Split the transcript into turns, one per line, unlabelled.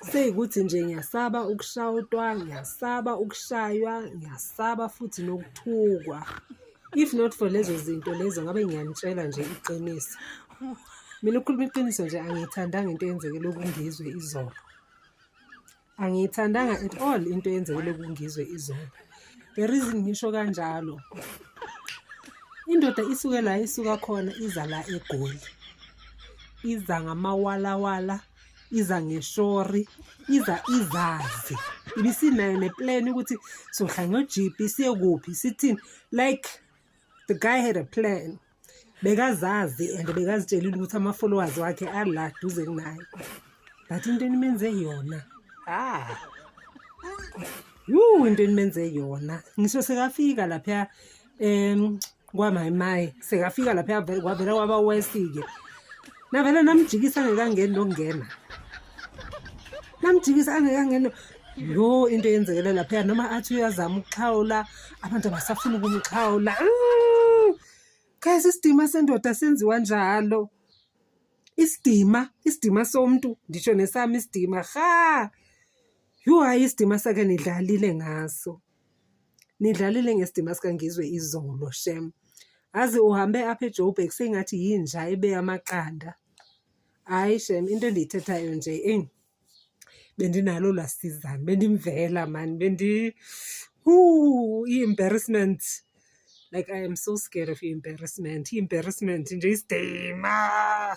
Seyikuthi nje ngiyasaba ukushawutwa, ngiyasaba ukushaywa, ngiyasaba futhi nokuthukwa. If not for lezo zinto lezo ngabe ngiyanitshela nje iqiniso. Mina ukukhuluma iqiniso nje angiyithandanga into eyenzekele uKungizwe izolo. Angiyithandanga at all into eyenzekele kungizwe izolo. The reason ngisho kanjalo. Indoda isuke la isuka khona iza la eGoli. Iza ngamawalawala, iza ngeshori, iza izazi. Ibisinayo neplan ukuthi sohlanga ojipi siye kuphi sithini like the guy had a plan. bekazazi and bekazitshelile ukuthi ama-followers wakhe ala duze kunaye but into enimenze yona ah yuu into enimenze yona ngisho sekafika lapha um kwamayimayi sekafika lapha kwavela kwaba wesike navele namjikisa angekangeni lokungena namjikisa angekangeni yo into eyenzekele laphaya noma athi uyazama ukuxhawula abantu abasafuni ukumxhawula guys isidima sendoda senziwa njalo isidima isidima somntu ndisho nesami isidima ha yhu hayi isidima sake nidlalile ngaso Nidlalile ngesidima sikaNgizwe izolo shem. Azi uhambe apha eJoburg sengathi yinja ebe amaqanda. Hhayi shem into endiyithethayo nje eyi bendinalo lasizana bendimvela mani bendi hu i-embarrassment like i am so scared of i-embarrassment i-embarrassment nje isidima